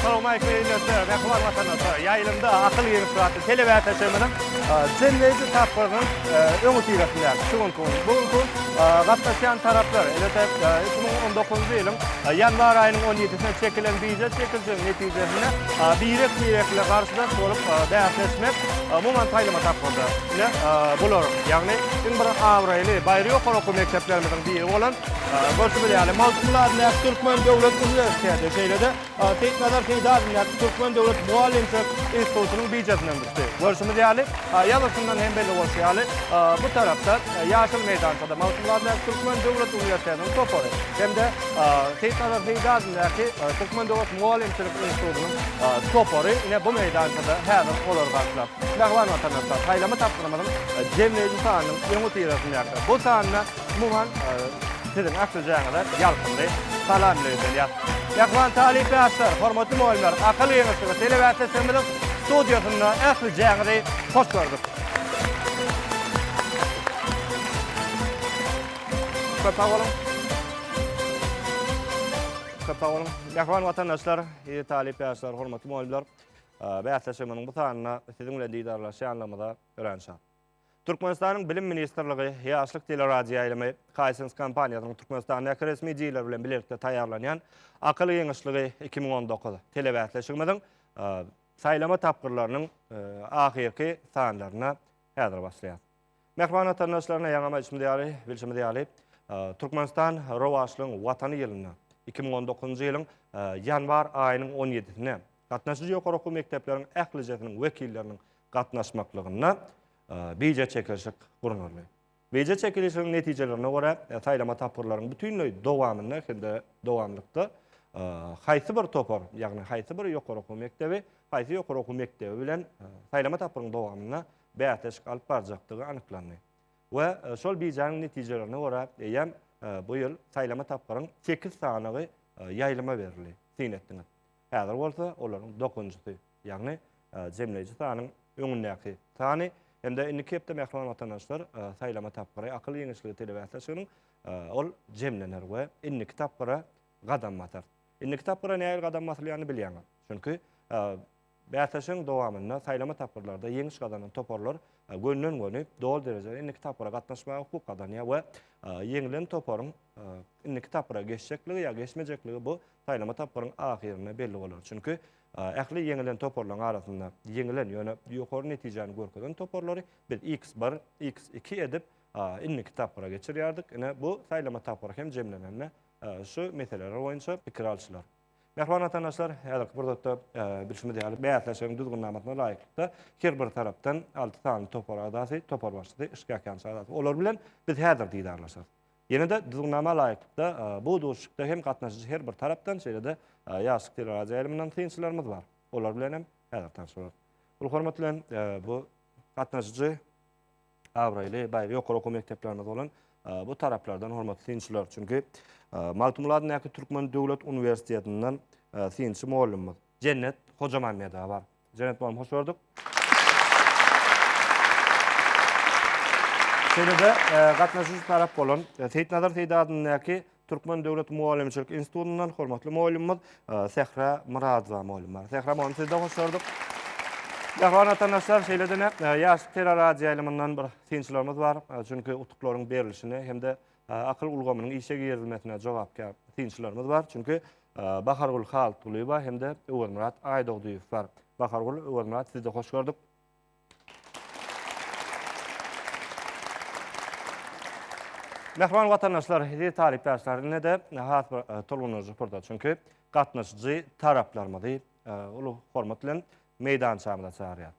Assalamualeykum ýene bir Mähriban watandaşlar. Ýaýlymda akyl ýeňiş atly telewätaşymyzyň jemleýji tapgyrynyň öňüsyrasynda şu günki gün. Bu gün gatnaşýan taraplar, elbetde, iki müň on dokuzynjy ýylyň ýanwar aýynyň on ýedisinde çekilen býujet çekilişiniň Netijesinde birek-birekli garşydaş bolup bäsleşmek umuman saýlama tapgyrda. Ine, bular, ýagny iň bir abraýly baýry ýokary okuw mekdeplerimiziň biri bolan, görşüňiz ýaly, Magtymguly adyndaky Türkmen döwlet uniwersiteti, şeýle-de Seýitnazar Seýdi adyndaky Türkmen döwlet mugallymçylyk institutynyň biýjetinden düşdi. Görşümiz ýaly, ýazgyşyndan hem belli bolşy ýaly, bu tarapda, ýaşyl meýdançada Magtymguly adyndaky Türkmen döwlet uniwersitetiniň topary hem-de, Seýit Nazar Seýdi adyndaky Türkmendost mugallymçylyk institutynyň topary ine bu meýdançada häzir olary garşylap. Mähriban watandaşlar, saýlama tapgyrymyzyň jemleýji sanynyň öňüsyrasyndaky bu sanyna umuman siziň ählijaňyza ýalkymly salamlarymyzy berýäris. Mähriban talyp ýaşlar, hormatly mugallymlar, Akyl geňeşligi telewäsleşigimiziň studiýasynda ählijaňyzy hoş gördük. Köp sag boluň. Köp sag boluň. Mähriban watandaşlar, eziz talyp ýaşlar, hormatly mugallymlar. Bäsleşigimiziň bu sanyna siziň bilen didarlaşýanlygymyza örän şat. Türkmenistanyň Bilim ministrligi, Ýaşlyk teleradioýaýlymy, Hisense kompaniýasynyň Türkmenistandaky resmi diýler bilen bilelikde taýýarlanýan Akyl giňişligi iki müň on dokuz telebäsleşigimiziň saýlama tapgyrlarynyň ahyrky sanlaryna häzir başlaýarys. Mähriban watandaşlaryna ýaňama içimiz ýaly, bilşimiz ýaly, Türkmenistan rowaçlygyň watany ýylynda, 2019-njy ýylyň ýanwar aýynyň on ýedisine gatnaşyjy ýokary okuw mekdepleriň ählijesiniň wekilleriniň gatnaşmaklygynda bije çekilişik gurnaldy. Bije çekilişigiň netijelerine görä, saýlama tapgyrlaryň bütinleý dowamynda hem-de dowamlykda haýsy bir topar, ýagny haýsy bir ýokary okuw mekdebi, haýsy ýokary okuw mekdebi bilen saýlama tapgyryň dowamynda bäsleşik alyp barjakdygy anyklandy we şol bijäniň netijelerine görä eýýäm bu ýyl saýlama tapgyryň sekiz sanagy ýaýlyma berildi. Syn etdiňiz. Häzir bolsa olaryň dokuzynjysy, ýagny jemleýji sanyň öňündäki sany hem-de indiki hepde mähriban watandaşlar saýlama tapgyry akyl giňişligi telebäsleşiginiň ol jemlener we indiki tapgyra gadam basar. Indiki tapgyra nähili gadam basylýanyny bilýäňiz. Çünki Bäsleşigiň dowamynda saýlama tapgyrlarda ýeňiş gazanan toparlar gönden-göni doly derejede indiki tapgyra gatnaşmaga hukuk gazanýar we ýeňlen toparyň indiki tapgyra geçjekligi ýa geçmejekligi bu saýlama tapgyryň ahyrynda belli bolar. Çünki ähli ýeňilen toparlaryň arasynda ýeňilen, ýöne ýokary netijäni görkezen toparlary biz X1, X2 edip indiki tapgyra geçirýärdik. Ine, bu saýlama tapgyry hem jemlenende şu meseleler boýunça pikir alşylar. Mähriban watandaşlar, häzirki pursatda bilşimiz ýaly, bäsleşigiň düzgünnamasyna laýyklykda, her bir tarapdan alty sany topar agzasy, topar başlysy, şikaýatçy agzasy, olar bilen biz häzir didarlaşarys. Ýene-de düzgünnama laýyklykda, bu duşuşykda hem gatnaşyjy her bir tarapdan, şeýle-de Ýaşlyk teleradioýaýlymyndan synçylarymyz bar. Olar bilen hem häzir tanyşarys. Uly hormat bilen, bu gatnaşyjy. abraýly, baý ýokary okuw mekdeplerimiz bolan bu taraplardan hormatly synçylar. Çünki Magtymguladyndaky Türkmen döwlet uniwersitetinden synçy mugallymymyz Jennet Hojamammedowa bar. Jennet mugallym hoş gördük. Şeýle-de gatnaşyjy tarap bolan Seýitnazar Seýdi adyndaky Türkmen döwlet mugallymçylyk institutyndan hormatly mugallymymyz e, Sähra Myradowa mugallym bar. Sähra mugallym sizi de hoş gördük. Gahwan watandaşlar şeýle dene e, ýaş teleradioýaýlymyndan bir synçylarymyz bar. E, çünki utuklaryň berilişine hem-de e, akyl ulgamynyň işe girizilmesine jogapkär synçylarymyz bar. Çünki e, Bahargül Haltgulyýewa hem-de Öwezmyrat Aýdogdyýew bar. Bahargül, Öwezmyrat sizi de hoş gördük. Mähriban watandaşlar, eziz talypdaşlar, indi de has bir e, tolgunyjy pursat. Çünki gatnaşyjy taraplarymyzy e, uly hormat bilen meýdançamyza çagyrýar.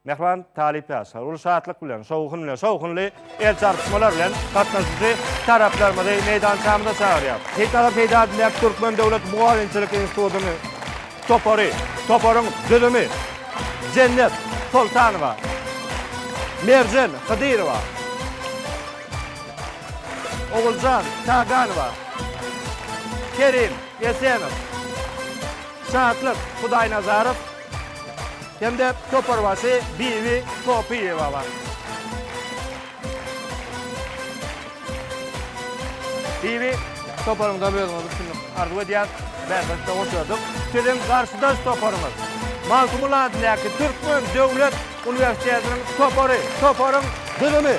Mähriban talypdaşlar, uly şatlyk bilen, şowhun bilen, şowhunly El çarpyşmalar bilen gatnaşyjy taraplarymyzy meýdançamyza çagyrýar. Gitara peýda diläp Türkmen döwlet mugallymçylyk institutynyň topary, toparyň düzümi, Jennet Soltanowa, Merjen Hydyrowa, Oguljan Çaganowa, Kerim Esenow, Şatlyk Hudaýnazarow, hem-de toparbaşy Bibi Topyýewa bar. Bibi, toparyňyzam özüňiz üstünlik arzuw edýäs. Bäsleşikde hoş gördük. Siziň garşydaş toparyňyz, Magtymguly adyndaky Türkmen döwlet uniwersitetiniň topary, toparyň düzümi,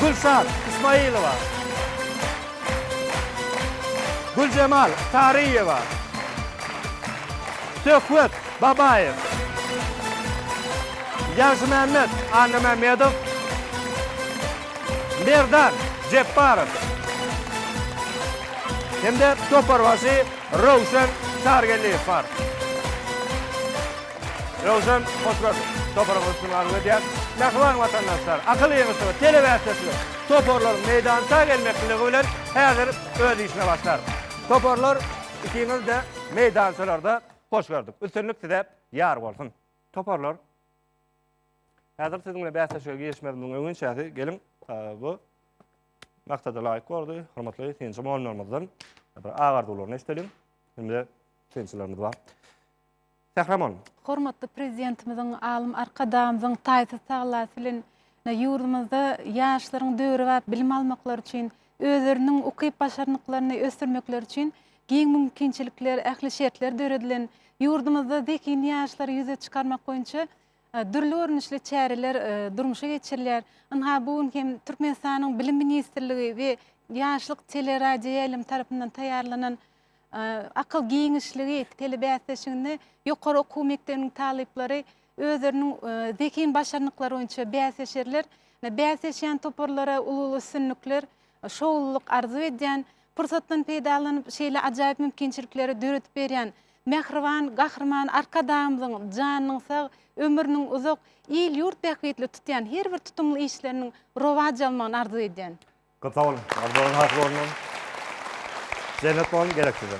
Gülşat Ismailowa. Güljemal Saryýewa. Söhbet Babaýew. Ýagşymämmet Annamämmedow. Merdan Jepbarow hem-de toparbaşy Röwşen Çargeldiýew bar. Röwşen Hoşroz toparyň üstünligi arzuw edýär. Mähriban watandaşlar, Akyl ýeňiji we telebäsdeşli toparlaryň meýdança gelmekliligi bilen häzir öz işine başlar. Toparlar, ikiňiz-de meýdançalarda hoş gördük. Üstünlik size ýar bolsun. Toparlar, häzir siziň bilen bäsleşige girişmezimiziň öňüni çäsi, geliň, bu maksada laýyk bordy, hormatly synçy mugallymlarymyzdan bir agy arzuwlaryny eşideliň. Hem-de synçylarymyz bar. Gahramon. Hormatly Prezidentimiziň, alym Arkadagymyzyň taýsyz tagallasy bilen ýurdumyzda ýaşlaryň döwrebap bilim almaklary üçin, özleriniň ukyp-başarnyklaryny ösdürmekleri üçin giň mümkinçilikler, ähli şertler döredilen, ýurdumyzda zehin ýaşlary ýüze çykarmak boýunça dürli görnüşli çäreler durmuşa geçirilýär. Ynha, bu gün hem Türkmenistanyň Bilim ministrligi we Ýaşlyk teleradioýaýlymy tarapyndan taýýarlanan Akyl giňişligi telebäsleşiginde ýokary okuw mekdebiniň talyplary özleriniň zehin başarnyklary boýunça bäsleşerler. Bäsleşýän toparlara uly-uly üstünlikler, şowlulyk arzuw edýän. Pursatdan peýdalanyp, şeýle ajaýyp mümkinçilikleri döredip berýän mähriban Gahryman Arkadagymyzyň janynyň sag, ömrüniň uzak, il-ýurt bähbitli tutýan her bir tutumly işleriniň rowaç almagyny arzuw edýän. Köp sag boluň. Arzuwlaryň hasyl bolsun. Jennat bolsun gerek size.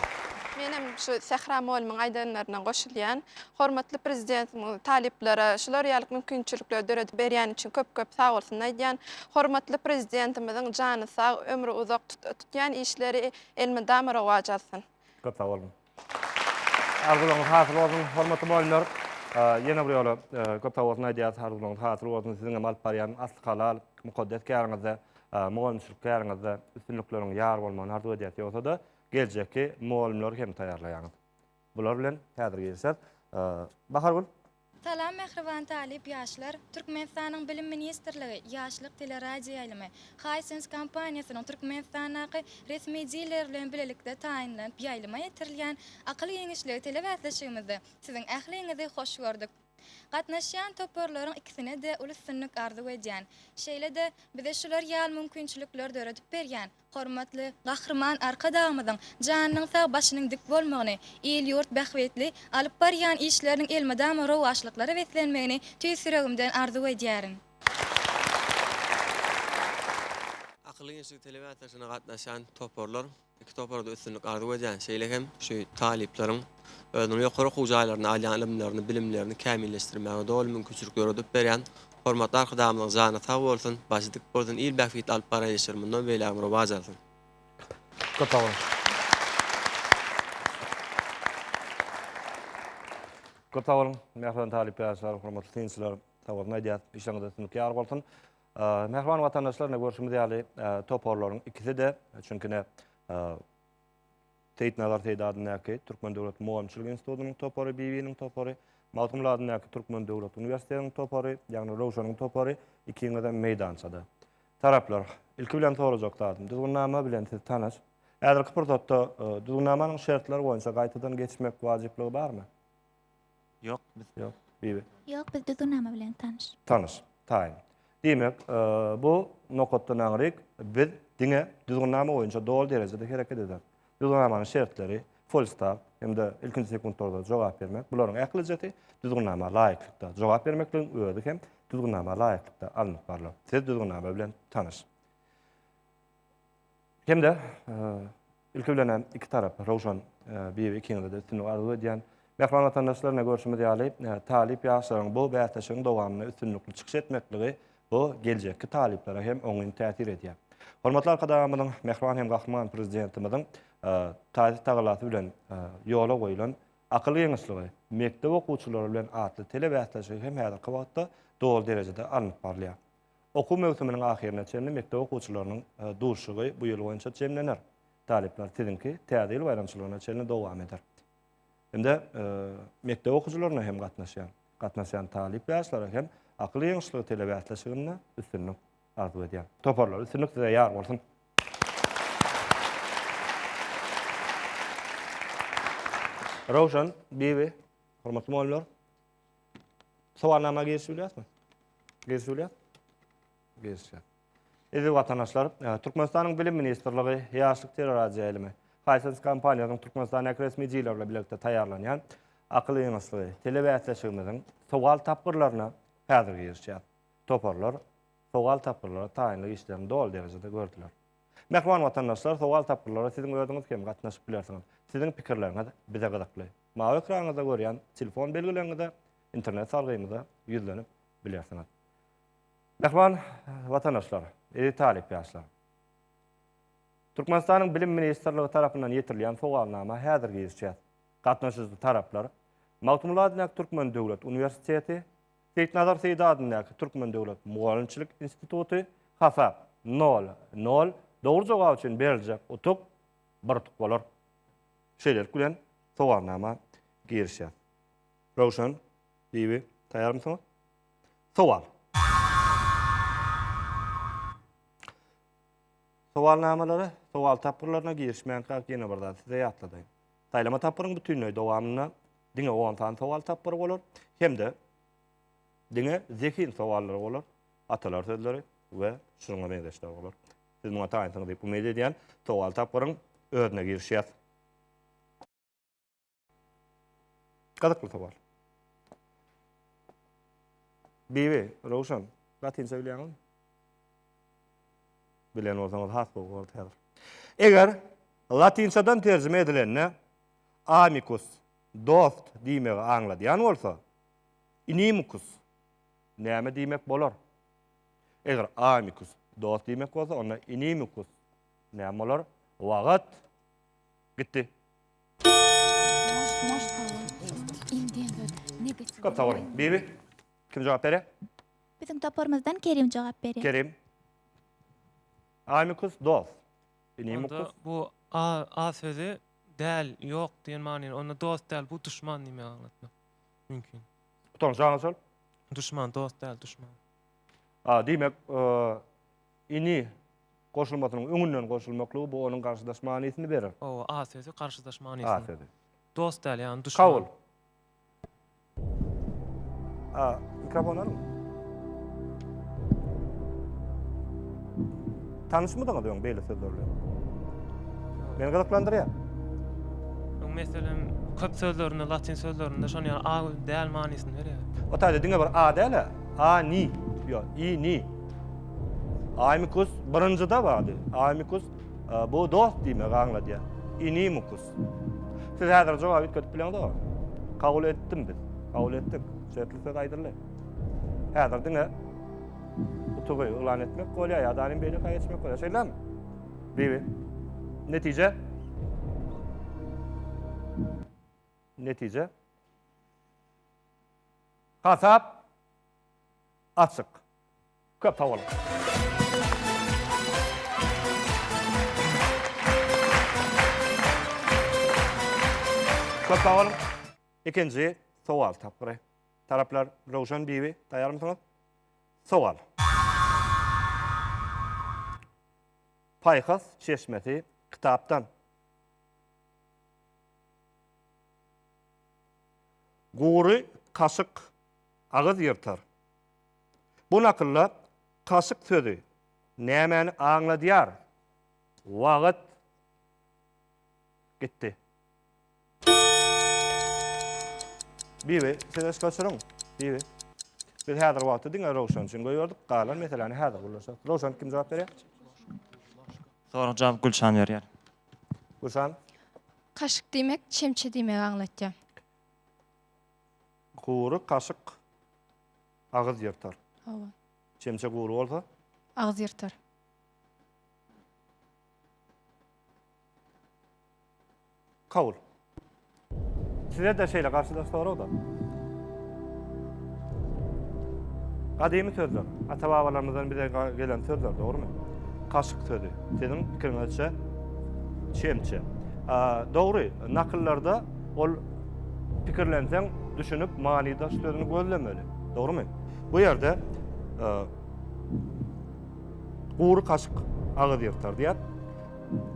Menem şu Sähra molymyň aýdanlaryna goşulýan. Hormatly Prezidentimiz talyplara şular ýaly mümkinçilikleri döredip berýäni üçin köp köp sag bolsun aýdýan. Hormatly Prezidentimiziň jany sag, ömri uzak tutýan işleri elmydama rowaç alsyn. Köp sag boluň. Arzuwlaryňyz hasyl bolsun, hormatly mugallymlar! Ýene bir ýola köp sag bolsun aýdýarys, arzuwlaryňyz hasyl bolsun, siziň hem alyp barýan asly halal, mukaddes käriňizde, mugallymçylyk käriňizde üstünlikleriň ýar bolmagyny arzuw edýäris, ýogsa-da geljekki mugallymlary hem taýýarlaýaňyz. Bular bilen häzir gelişer. Bahargül. Salam mähriban talyp ýaşlar! Türkmenistanyň Bilim ministrligi, Ýaşlyk teleradioýaýlymy, Hisense kompaniýasynyň Türkmenistandaky resmi dileri bilen bilelikde taýynlanyp ýaýlyma ýetirilýän Akyl giňişligi telebäsleşigimizde siziň ähliňizi hoş gördük. Gatnaşýan toparlaryň ikisine-de uly üstünlik arzuw edýän. Şeýle-de, bize şular ýaly mümkinçilikleri döredip berýän Hormatly Gahryman Arkadagymyzyň janynyň sag, başynyň dik bolmagyny, il-ýurt bähbitli alyp barýan işleriniň elmydama rowaçlyklara beslenmegini tüýs ýüregimden arzuw edýärin. Akylly gençlik telemeatlaşygyna gatnaşýan toparlar, iki topara-da üstünlik arzuw edýän, şeýle hem şu talyplaryň özüniň ýokary okuw jaýlarynda alýan ylymlaryny, bilimlerini kämilleşdirmäge doly mümkinçilik döredip berýän Hormatly Arkadagymyzyň jany sag bolsun, başy dik bolsun, il bähbitli alyp baran işleri mundan beýlägem rowaç alsyn. Köp sag boluň. Köp sag boluň, mähriban talyp ýaşlar, hormatly synçylar. Sabolsun aýdýas, işleriňiz üstünlik ýar bolsun. Mähriban watandaşlar, ine görşümiz ýaly, toparlaryň ikisi-de, çünki ine, Seýitnazar Seýdi adyndaky Türkmen döwlet mugallymçylyk institutynyň topary, Bibiniň topary, Magtymguly adyndaky Türkmen döwlet uniwersitetiniň topary, ýagny Röwşeniň topary ikiňizem meýdançada. Taraplar, ilki bilen sorajak zadym, düzgünnama bilen siz tanyş. Häzirki pursatda düzgünnamanyň şertleri boýunça gaýtadan geçmek wajyplygy barmy? Ýok, biz. Ýok, Bibi. Ýok, biz düzgün nama bilen tanyş. Tanyş, taýyn. Diýmek, bu nokatdan aňryk biz diňe düzgün nama boýunça doly derejede hereket ederis. Düzgün namanyň şertleri, folstart hem-de ilkinji sekuntlarda jogap bermek, bularyň ählijesi düzgün nama laýyklykda. Jogap bermekligiň özi hem düzgün nama laýyklykda alnyp barlar. Siz düzgün nama bilen tanyş. Hem-de ilki bilen-ä iki tarap, Röwşen bibi ikiňize-de üstünlik arzuw edýän. Mähriban watandaşlar, ine görşümiz ýaly, talyp ýaşlaryň bu bäsleşigiň dowamynda üstünlikli çykyş etmekligi, bu geljekki talyplara hem oňyn täsir edýär. Hormatly Arkadagymyzyň, mähriban hem Gahryman Prezidentimiziň taýsyz tagallasy bilen ýola goýlan Akyl giňişligi, mekdep okuwçylary bilen atly telebäsleşigi hem häzirki wagtda doly derejede alnyp barylýar. Okuw möwsüminiň ahyryna çenli mekdep okuwçylarynyň duşuşygy bu ýyl boýunça jemlener. Talyplar siziňki Täze ýyl baýramçylygyna çenli dowam eder. Indi mekdep okuwçylaryna hem gatnaşýan, gatnasýan talyp ýaşlara hem Akyl ýeňişligi telebäsleşiginde üstünlik arzuw edýän. Toparlar, üstünlik size ýar bolsun! Röwşen, Bibi, hormatly mugallymlar! Sowalnama giriş bilýäsmi? Giriş bilýär? Girişýär. Eziz watandaşlar, e, Türkmenistanyň Bilim ministrligi Ýaşlyk teleradioýaýlymy, Hisense kompaniýasynyň Türkmenistanyň resmi diýler bilen birlikde taýýarlanýan akyl ýygynyşlygy telebäsleşigimiziň sowal tapgyrlaryna häzir girişýär. Toparlar sowal tapgyrlary taýynlyk işlerini doly derejede gördüler. Mähriban watandaşlar, sowal-tapgyrlara siziň özüňiz hem gatnaşyp bilersiňiz. Siziň pikirleriňiz bize gyzykly. Mawy ekranyňyzda görýän telefon belgileňize, internet salgymyza ýüzlenip bilersiňiz. Mähriban watandaşlar, eziz talyp ýaşlar! Türkmenistanyň Bilim ministrligi tarapyndan ýetirilýän sowalnama häzir girişýäs. Gatnaşyjy taraplar, Magtymguly Adynäk Türkmen döwlet uniwersiteti, Seýitnazar Seýdi adyndaky Türkmen döwlet mugallymçylyk instituty, Hasap, nol, nol, Dogry jogap üçin beriljek utuk, bir utuk bolar. Şeýlelik bilen, sowalnama girişýär. Röwşen, Bibi, taýýarmysyňyz? Sowal. Sowalnamalara, sowal tapgyrlaryna girişmänkä ýene bir zat size ýatladaýyn. Saýlama tapgyryň bütinleý dowamynda diňe on sany sowal tapgyry bolar hem-de diňe zehin sowallary bolar, atalar sözleri we şunuňa meňzeşler bolar. Siz muňa taýynsyňyz diýip umyt edýän, sowal tapgyryň özüne girişýäs. Gyzykly sowal. Bibi, Röwşen, latynça bilýäňizmi? Bilen bolsaňyz has gowy bolardy häzir. Eger latynçadan terjime edilende amicus, dost diýmegi aňladýan bolsa, inimicus näme diýmek bolar? Eger amicus, dost diýmek bolsa, onda inimicus näme bolar? Wagyt gitdi. Köp sag boluň. Bibi. Kim jogap berýär? Biziň toparymyzdan Kerim jogap berýär. Kerim. Amicus dos. Inimicus. Onda bu a a sözi däl, ýok diýen manyny, onda dost däl, bu duşman diýmegi aňlatmak mümkin. Gutaryňyz jaňyz şol. Duşman, dost däl, duşman. A, diýmek, e, ini goşulmasynyň öňünden goşulmaklygy bu onuň garşydaş manysyny berer. Owa, a sözi garşydaş manysyny. A sözi. Dost däl, ýagny duşman. Kabul. A, mikrofon alın. Tanışmydyňyz öň beýle sözler bilen? Meni gyzyklandyrýar. Öň meselem köp sözlerinde, latyn sözlerinde şony ýaly a däl manysyny berýär. O taýda diňe bir a däl, a ni, ýok, i ni. Aýmikus birinjide bardy. Aýmikus e, bu dost diýmegi aňladýar. Inimukus. Siz häzir jogap üýtgedip bileňizok. Kabul etdim biz. Kabul etdik. Şertli söz aýdyldy. Häzir diňe utugy yglan etmek bolýar ýa-da alim beýle kaý etmek bolýar. Şeýlemi? Bibi. Netije? Netije? Hasap açyk. Köp sag boluň. Köp sag boluň. Ikinji sowal tapgyry. Taraplar Röwşen Bibi, taýarmysyňyz? Sowal. Paýhas çeşmesi kitapdan. Gury kaşyk agyz ýyrtar, Bu nakylda kaşyk sözi nämäni aňladýar? Wagt gitdi. Bibi, siz ösüp oturyň. Bibi. Biz häzir wagty diňe Rowşan üçin goýberdik. Galan meseläni häzir gürleşeris. Rowşan kim jogap berýär? Soraga jogap Gülşan berýär. Gülşan. Kaşyk diýmek çemçe diýmegi aňlatýar. Gury kaşyk Agyz ýyrtar. Hawa. Çemçe gury bolsa? Agyz ýyrtar. Kabul. Size-de şeýle garşydaş sorag-da. Gadymy sözler, ata-babalarymyzdan bize gelen sözler, dogrumy? Kaşyk sözi, siziň pikiriňizçe, çemçe. Dogry, nakyllarda Ol pikirlenseň, düşünip, manydaş sözüni gözlemeli. Dogrymy? Bu ýerde e, gury kaşyk agyz ýyrtar diýär.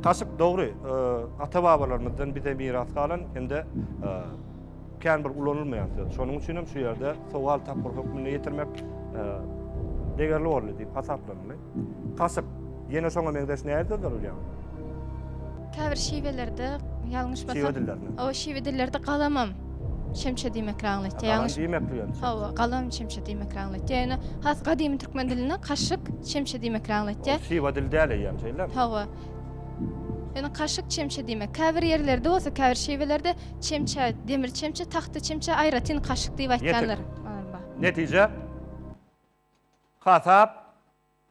Kaşyk dogry, e, ata-babalarymyzdan bize miras galan hem-de e, kän bir ulanylmaýan söz. Şonuň üçin hem şu ýerde sowal tapgyr hökmünde ýetirmek degerli boldy diýip hasaplanyldy. Kaşyk, ýene şoňa meňzeş närde durulýar? Käbir şiwelerde, ýalňyşmasam. Şiwe dillerinde. Hawa, şiwe dillerde galamam şemşe diýmekle aňlatýar. Galam diýmekli ýöne. Hawa, galam şemşe diýmekle aňlatýar. Ýöne has gadymy türkmen dilinde kaşyk şemşe diýmekle aňlatýar. Ol şiwe dili däl eýýäm, şeýlemi? Hawa. Ýöne kaşyk şemşe diýmek. Käbir ýerlerde bolsa, käbir şiwelerde şemşä, demir şemşe, tahta şemşä aýratyn kaşyk diýip aýtýanlar. Netije? Hasap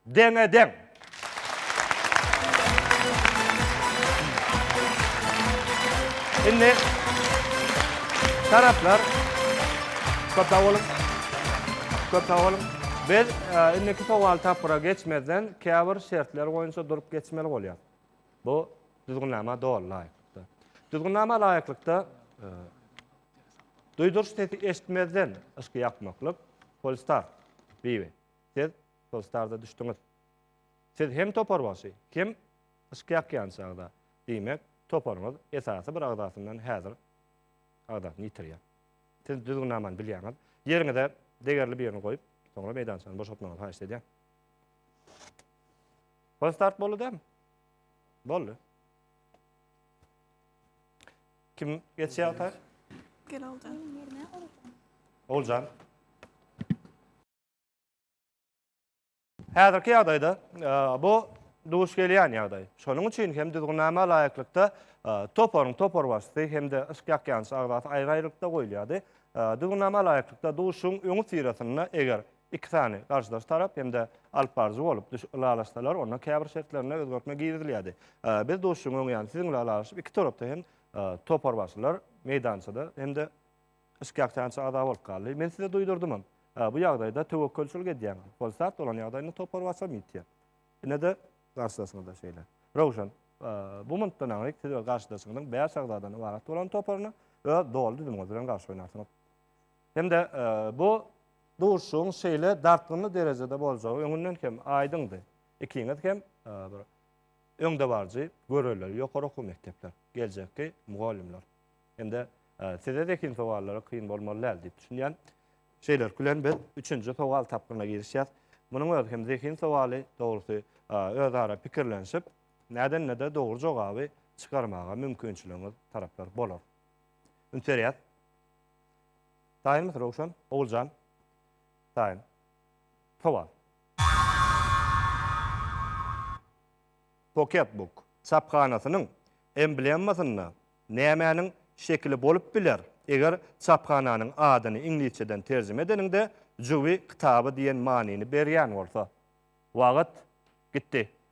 deňe deň. Indi taraplar köp sag boluň. Köp sag boluň. Biz indiki sowal tapgyra geçmezden käbir şertler boýunça durup geçmeli bolýar. Bu düzgünnama doly laýyklykda. Düzgünnama laýyklykda Duýduryş sesi eşitmezden yşky ýakmaklyk, Polestar, Bibi, siz Polestarda düşdüňiz. Siz hem toparbaşy, hem yşky ýakýan çagda, diýmek, toparyňyz esasy bir agzasyndan häzir agzasyny ýitirýär. Siz düzgünnamany bilýäňiz. Ýeriňize degerli birini goýup, soňra meýdançany boşatmagyňyzy haýyş edýän. Polestart boldy dämi? Boldy. Kim geçýär ata? Gel Oljan. Oljan. Häzirki ýagdaýda e, bu duş gelýän ýagdaý. Şonuň üçin hem düzgünnama laýyklykda e, toparyň topar başysy hem-de yşk ýakýançy agzasy aýry-aýrylykda goýulýardy. E, düzgünnama laýyklykda duşuň öňi syrasynda eger Iki sany garşydaş tarap hem-de alypbaryjy bolup düş ylalaşsalar, onda käbir şertlerine özgertme girizilýärdi. Biz duşuşygyň öň ýany siziň bilen ylalaşyp, iki tarapda hem toparbaşylar meýdançada hem-de şikâkçança agza bolup galdy. Men size duýdurdymam. Bu ýagdaýda töwekgelçilik edýäňiz. Hol sag bolan ýagdaýynda toparbaşam ýitýär. Ine-de garşydaşyňyz-da şeýle. Röwşen, bu minutdan aňryk siz öz garşydaşyňyzyň bäş agzadan ybarat bolan toparyna öz doly düzümiňiz bilen garşy oýnarsyňyz. Hem-de bu duşuşygyň şeýle dartgynly derejede boljagy öňünden hem aýdyňdy. Ikiňiz hem bir öňdebaryjy göreleri ýokary okuw mekdepler, geljekki mugallymlar. Hem-de size zehin sowallary kyn bolmaly däl diýip düşünýän. Şeýlelik bilen biz üçünji sowal tapgyryna girişýäs. Munuň özi hem zehin sowaly, dogrusy, özara pikirlenişip, näden-näde dogry jogaby çykarmaga mümkinçiligiňiz taraplar bolar. Üns berýäs. Taýynmysyň Röwşen? Oguljan. Taýyn. Sowal. Poketbook çaphanasynyň emblemasynda nämäniň şekili bolup biler? Eger çaphananyň adyny iňlisçeden terjime edeniňde jübi kitaby diýen manyny berýän bolsa. Wagyt gitdi.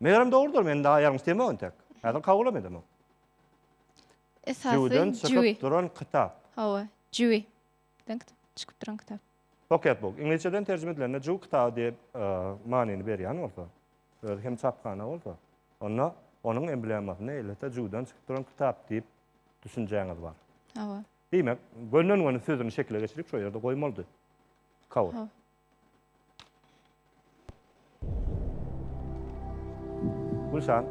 Megerem dogrudyr, men daha ýalňyş diýemok entek. Häzir kabulam edemok. Esasy Jüwiden çykyp duran kitap. Hawa, Jüwi. Den çykyp duran kitap. Pocket book. Iňlisçeden terjime edilende Jüw kitaby diýip e, manyny berýän bolsa, öz hem çaphana bolsa, onda onuň emblemasyny ellete Jüwden çykyp duran kitap diýip düşünjäňiz bar. Hawa. Diýmek, gönden-göni sözüni şekile geçirip şo ýerde goýmalydy. Kabul. Gülşan,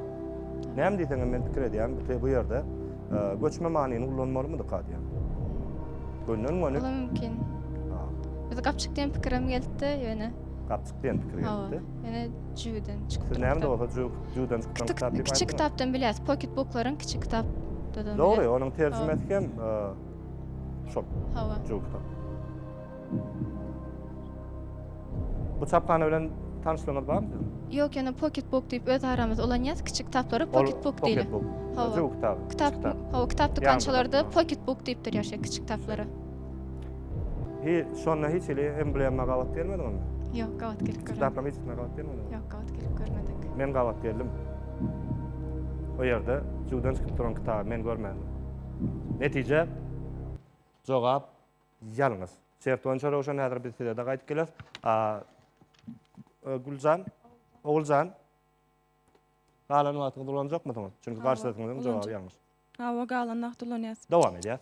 näme diýseňem men pikir edýän, bu bu ýerde e, göçme manyny ulanmalymydyk diýýän. Gönden göni. Ola mümkin. Biz gapçyk diýen pikirim geldi ýöne. Gapçyk diýen pikir geldi. Ýöne jüwden çykyp. Siz näme bolsa jüwden çykýan kitap diýip. Kiçi kitapdan bilýäs, pocket booklaryň kiçi kitap. Dogry, onuň terjimesi hem e, şol. Hawa. Jüw kitap. Bu çaphana bilen tanyşlygyňyz barmy siziň? Ýok, ýöne Pocket Book diýip öz aramyzda ulanýas, kiçi kitaplara Ol Pocket Book diýilýär. Pocket Book. Hawa. Özü bu kitap. Kitap, kiçi kitap. hawa, kitap dükançalarda Ýaňzyda. Pocket Book diýip durýar şeýle kiçi kitaplara. Hi, şonda hiç hili emblema gabat gelmedi onda? Ýok, gabat gelip görmedik. Kitaplam hiç kimä gabat gelmedi. Ýok, gabat gelip görmedik. Men gabat geldim. O ýerde juwdan çykyp duran kitaby men görmändim. Netije? Jogap, Ýalňyz. Şert boýunça Röwşen häzir biz size-de gaýdyp geleris. A Güljan, Oguljan. Galan wagtyňyzy ulanjakmysyňyz? Çünki garşydaşyňyzyň jogaby ýalňyş. Hawa, galan wagty ulanýas. Dowam edýäs.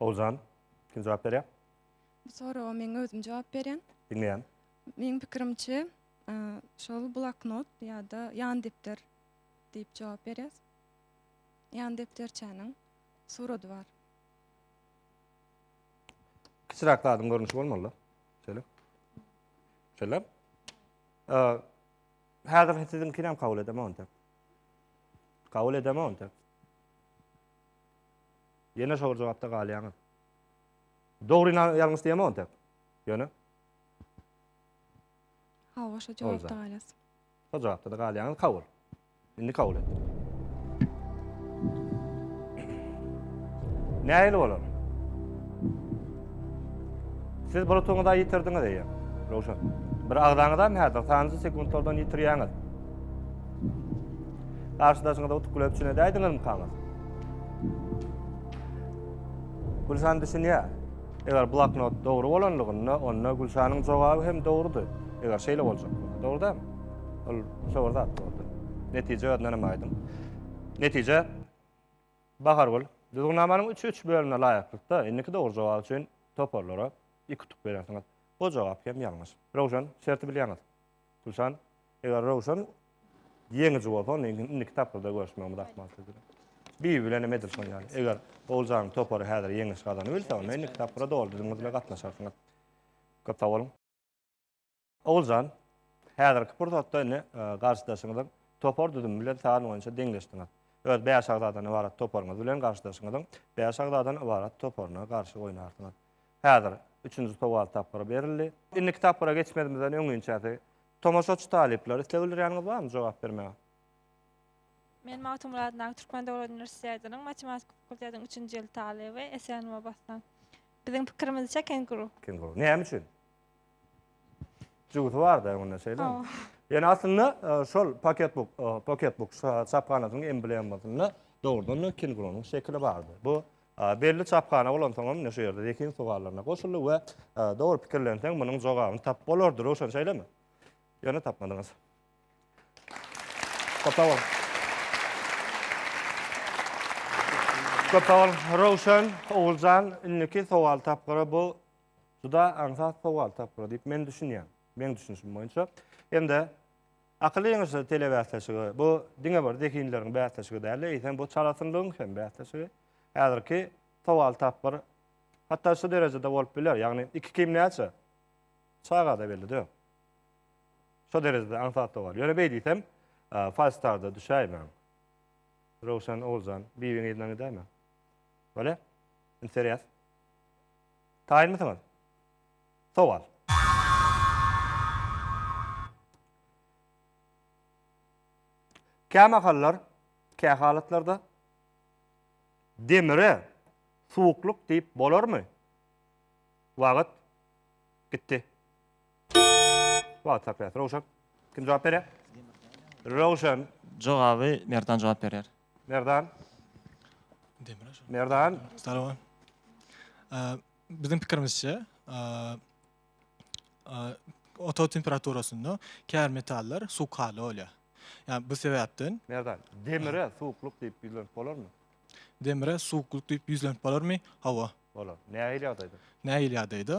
Ozan, kim jogap berýär? Bu soraga men özüm jogap berýän. Diňleýän. Meniň pikirimçe, e, şol bloknot ýa-da ýan depder diýip jogap berýär. Ýan depderçäniň surady bar. Kiçiräk zadyň görnüşi bolmaly-da. Şeýle. Şeýle. Häzir siziň kiram kabul edemok onda. Kabul edemok onda. Ýene şol jogapda galýaňyz. Dogry ýalňyş diýemok onda. Ýöne. Hawa, şo jogapda galýas. Şo jogapda-da galýaňyz kabul. Indi kabul etdirik. Nähili bolar? Siz bulutuňyza ýitirdiňiz eýe. Rowşan. Bir agzaňyzam häzir sanjy sekuntlardan ýitirýäňiz. Garşydaşyňyza utuk bilen üçin edäýdiňizmi kaňyz? Gülşan düşünýär. Eger bloknot dogry bolanlygynda, onda Gülşanyň jogaby hem dogrudy. Eger şeýle boljak bolsa, dogry dälmi? Ol şo bir zat boldy. Netije özünden hem aýdyň. Netije, Bahargül, düzgünnamanyň üç üç bölümine laýyklykda, indiki dogry jogap üçin toparlara iki utuk berersiňiz. Bu jogap hem ýalňyş. Röwşen, şerti bilýäňiz. Gülşan, eger Röwşen ýeňiji bolsa, onda indiki tapgyrda görüşmegimiz ahmal sizbilen. Bibi bilen hem edil şon ýaly. Eger Oguljanyň topary häzir ýeňiş gazanybilse, onda indiki tapgyra doly düzümiňiz bilen gatnaşarsyňyz. Köp sagboluň. Oguljan, häzirki pursatda indi garşydaşyňyzyň topar düzümi bilen san boýunça deňleşdiňiz. Öz bäş agzadan ybarat toparyňyz bilen garşydaşyňyzyň bäş agzadan ybarat toparyna garşy oýnarsyňyz. Häzir üçünji sowal tapgyry berildi. Indiki tapgyra geçmezimizden öňinçäsi tomaşaçy talyplar isleg bildirýäniňiz barmy jogap bermäge? Men Magtymguly adyndaky Türkmen döwlet uniwersitetiniň matematika fakultetiniň üçünji ýyl talyby Esen Mobassan. Biziň pikirimizçe kenguru. Kenguru. Näme üçin? Jübüsi bar-da öňünde şeýlemi? Hawa. Ýöne aslynda şol Pocketbook, Pocketbook çaphanasynyň emblemasynda dogrudan-da kengurunyň şekili bardy. Bu Belli çaphana bolansoňam ine şu ýerde zehin sowallaryna goşuldy we dogry pikirlenseň munuň jogabyny tapyp bolardy. Röwşen şeýlemi? Ýöne tapmadyňyz. Köp sag boluň. Köp sag boluň. Röwşen, Oguljan, indiki sowal tapgyry bu juda aňsat sowal tapgyry diýip men düşünýän. Meň düşünişim boýunça. Hem-de Akyl ýeňişleri telebäsleşigi, bu diňe bir zehinleriň bäsleşigi däl-de, eýsem, bu çalasynlygyň hem bäsleşigi. Häzirki sowal tapgyr hatda şu derejede bolup biler, ýagny iki kim näçe? Çaga-da belli döl. Şo derejede aňsat sowal. Ýöne beý diýsem, Falstar-da düşäýmäň. Röwşen Oguljan, Bibiň yzyndan gidäýmäň. Bolýa? Indi serýaz. Taýynmysyňyz? Sowal. Kämahallar, kähalatlarda demire suwuklyk diýip bolarmy? Wagt. Gitdi. Wagt saklas. Röwşen. Kim jogap berýär? Röwşen. Jogaby Merdan jogap berýär. Merdan. Merdan. Salom. Biziň pikirimizçe, otag temperaturasynda käbir metallar suwkaly bolýar. Ýa bu sebäpden. Merdan, demire suwuklyk diýip ýüzlenip bolarmy? Demire suwuklyk diýip ýüzlenip bolarmy? Hawa. Bolar. Nähili ýagdaýda? Nähili ýagdaýda?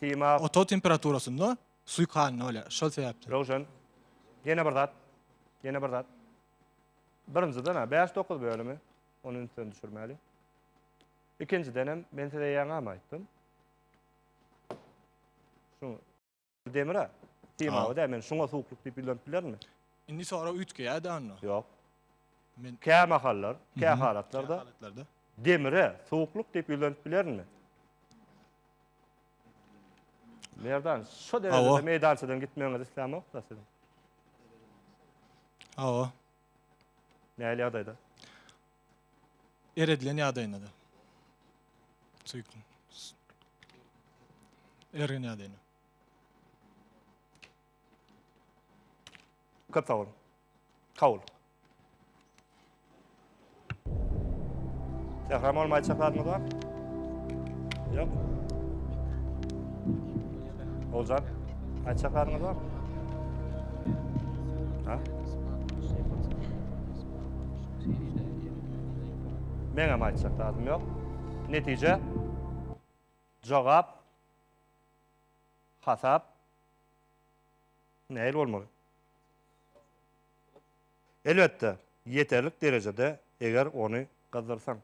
Tema. Otag temperaturasynda suýkanyny bolýar. Şol sebäpli. Röwşen. Ýene bir zat. Ýene bir zat. Birinjiden-ä bäş dokuz bölümi ony ünsden düşürmäli. Ikinjidenem men size ýaňam aýtdym. Şu demir-ä temawy dä men şuňa suwuklyk diýip ýüzlenip bilermi? Indi sorag üýtgeýär-de onda. Ýok. Men Kämahallar, kähalatlarda halatlarda. demire suwuklyk diýip ýüzlenip bilermi? Merdan, şu derejede meydançadan gitmegiňiz islämok da siziň. Awa. Näli ýagdaýda? Eredilen ýagdaýynda da. Söýkün. Ergin ýagdaýynda. Köp sag boluň. Sag bol. Zähram onuň aýtjak zadyňyz bar? Ýok. Oljan, aýtjak zadyňyz bar? Ha? Men hem aýtjak zadym ýok. Netije jogap hasap Nähili bolmaly? Elbetde, ýeterlik derejede, eger ony gyzdyrsaň,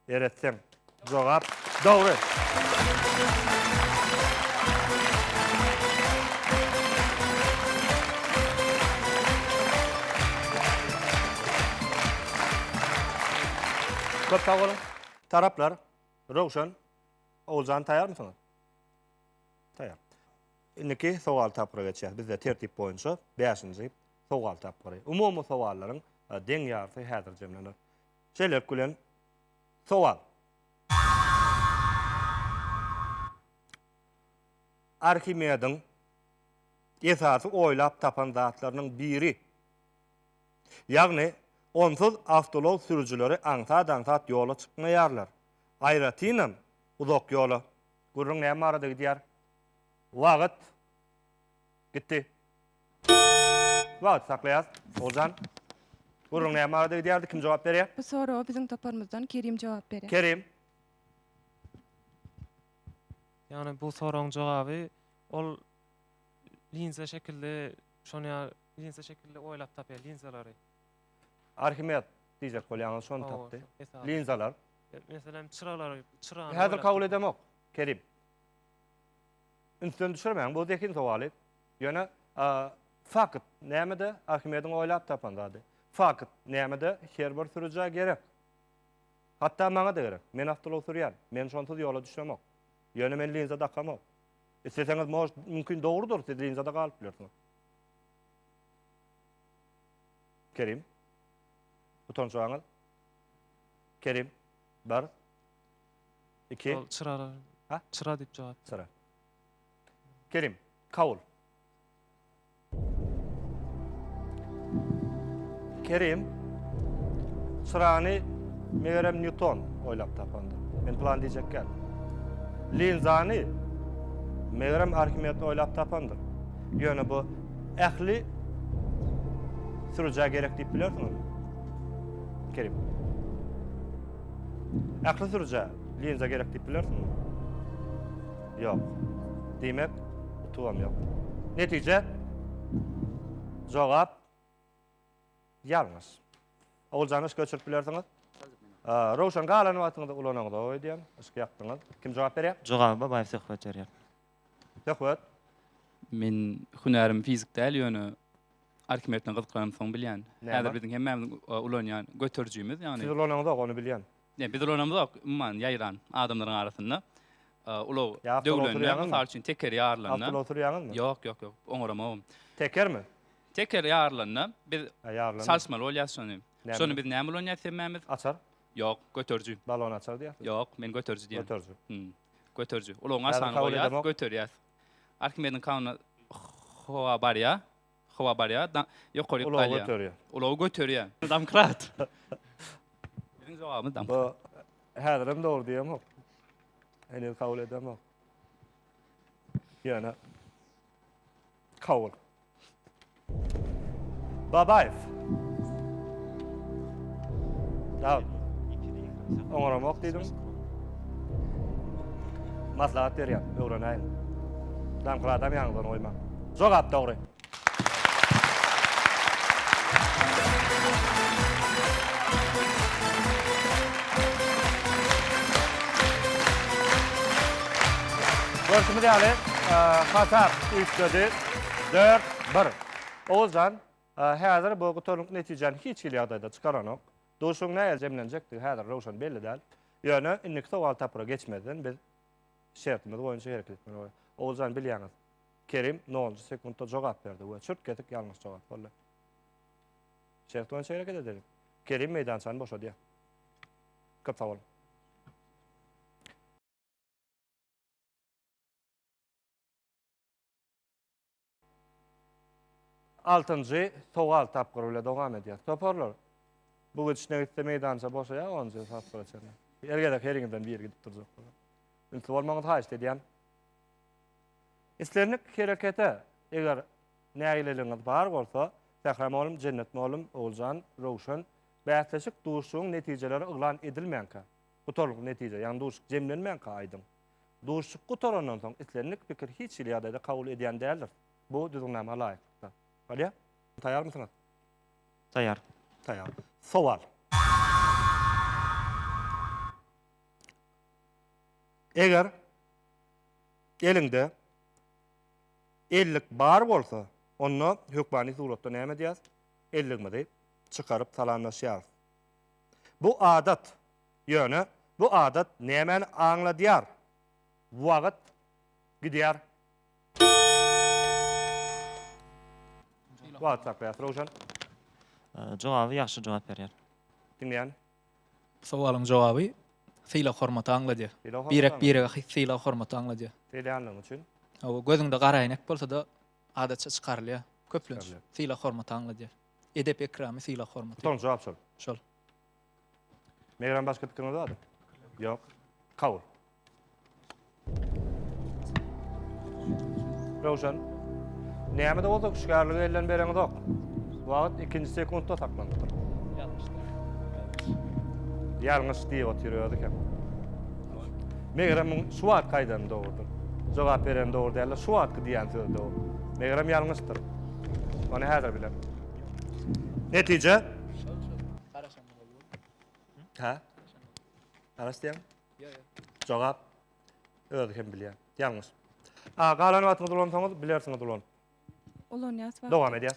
eretseň. Jogap dogry. Köp sag boluň. Taraplar, Röwşen, Oguljan taýýarmysyňyz? Taýýar. Indiki sowal tapgyra geçýäs. Bizde tertip boýunça bäşinji sowal tapgyry. Umumy sowallaryň deň ýarysy häzir jemlener. Şeýlelik bilen, sowal. Arhimediň esasy oýlap tapan zatlarynyň biri, ýagny onsuz awtoulag sürüjileri aňsat-aňsat ýola çykmaýarlar. Aýratynam uzak ýola. Gürrüň näme barada gidýär? Wagt. Gitdi. Wagty saklaýas. Oguljan. Gürrüň näme barada gidýärdi, kim jogap berýär? Bu soraga biziň toparymyzdan Kerim jogap berýär. Kerim. Ýagny bu soragyň jogaby ol linza şekilli şony ýa linza şekilli oýlap tapýar linzalary. Arhimed diýjek bolýaňyz şony Hawa, tapdy. esasan. Linzalar. Meselem çyralary çyrany Häzir oýlap kabul tapýar. edemok. Kerim. ünsden düşürmäň, bu zehin sowaly. Ýöne fakt nämede? Arhimediň oýlap tapan zady. Fakt nämede? Her bir sürüjä gerek. Hatda maňa-da gerek. Men awtoulag sürýän. Men şonsuz ýola düşemok. Ýöne men linza dakamok. Isleseňiz, mož, mümkin dogrudyr, siz linzada galyp bilersiňiz. Kerim. Utançaňyz. Kerim. Bar. Iki. Şol çyrara. Ha? Çyra diýip jogap. Çyra. Kerim, kabul. Kerim, çyrany megerem Newton oýlap tapandyr. Men plan diýjek gel. Linzany megerem Arhimed oýlap tapandyr. Ýöne bu ähli sürüjä gerek diýip bilersiň. Kerim. Ähli sürüjä linza gerek diýip bilersiňmi? Ýok. Diýmek, utugam ýok. Netije? Jogap ýalňyş. Oguljany yşka öçürip bilersiňiz? Röwşen galan wagtyňyzda ulanaňyz-ow öýdýän, yşk ýakdyňyz. Kim jogap berýär? Jogaby Babaýew söhbet berýär. Söhbet. Men hünärim fizik däl ýöne Arkimed bilen gyzyklanansoň bilýän. Häzir biziň hemmämiziň ulanýan göterijimiz ýagny. Siz ulananzok ony bilýän. Ýa biz ulanamzok umuman ýaýran adamlaryň arasynda. Ulag döwlende mysal üçin tekeri ýarylanda. Awtoulagda oturýaňyzmy? Ýok ýok ýok oňaramogum. Tekermi? Teker ýarylanda biz çalyşmaly bolýas şony. Şony biz näme ulanýas hemmämiz? Açar. Ýok göteriji. Balon açar diýýäsiz. Ýok men göteriji diýýän. Göteriji. Göteriji. Ulagyň aşagyna goýýas, göterýäs. Arkimediň kanunyna howa barýar. Howa barýar, ýokary ýüp galýar. Ulagy göterýär. Ulagy göterýär. Domkrat. Biziň jogabymyz domkrat. Häzir hem dogry diýemok. Heniz kabul edemok. Ýöne Kabul. Babaýew. Sag ol. Oňaramok diýdim. Maslahat berýän, öwrenäýin. Damkra adam ýaňydan goýmaň. Jogap dogry. Görşümiz ýaly, hasap üýtgedi, dört, bir. Oguzjan, häzir bu gutarylyk netijäni hiç hili ýagdaýda çykaranok. Duşuň nähili jemlenjekdigi häzir röwşen belli däl. Ýöne indiki sowal tapgyra geçmezden biz şertimiz boýunça hereket etmeli bolarys. Oguzjan, bilýäňiz, Kerim nolunjy sekuntda jogap berdi we çürt-kesik ýalňyş jogap boldy. Şert boýunça hereket edeliň. Kerim meýdançany boşadýar. Köp sag boluň. Altynjy sowal tapgyry bile dowam edýär. Toparlar, bu gidişine gitse meýdança boşaýar, onunjy tapgyra çenli. Her gezek heriňizden biri gidip durjak bolar. Ünsli bolmagyňyzy haýyşt edýän. Islendik herekete, eger nägileligiňiz bar bolsa, Sähra mugallym, Jennet mugallym, Oguljan, Röwşen, bäsleşik, duşuşygyň netijeleri yglan edilmänkä, Gutarylyp netije, ýagny duşuşyk jemlenmänkä aýdyň. Duşuşyk gutarandan soň islendik pikir hiç hili ýagdaýda kabul edýän däldiris. Bu düzgünnama laýyklykda. Bolýa? Taýýarmysyňyz? Taýýar. Taýýar. Sowal. Eger eliňde ellik bar bolsa, onda hökmany suratda näme edýäs? Elligimizi çykaryp salamlaşýarys. Bu adat, ýöne bu adat nämäni aňladýar? Wagt gidýär. Wagt saklaýas, Röwşen. Jogaby ýagşy jogap berýär. Diňleýän. Bu sowalyň jogaby sylag-hormaty aňladýar. Birek-birege sylag-hormaty aňladýar. Diýilýänligi üçin. Hawa, gözüňde garaýnek bolsa-da adatça çykarylýar. Köplenç sylag-hormaty aňladýar. Edep-ekramy, sylag-hormaty. Utanç jogap şol. Şol. Megerem başga pikiriňiz bardyr? Ýok. Kabul. Röwşen. Näme-de bolsa hüşgärligi elden bereňizok. Wagt ikinji sekuntda saklanypdyr. Ýalňyş diýip otyr özi hem. Megerem muň şu wagtky aýdany dogrudyr. Jogap bereni dogry däldir. Şu wagtky diýýän sözi dogry. Megerem ýalňyşdyr. Ony häzir biler. Netije? Ha? Garaş diýen? Jogap. Özi hem bilýär. Ýalňyş. A, galan wagtyňyzy ulansaňyz, bilersiňiz ulan. Ulanýas wagt. Dowam edýär.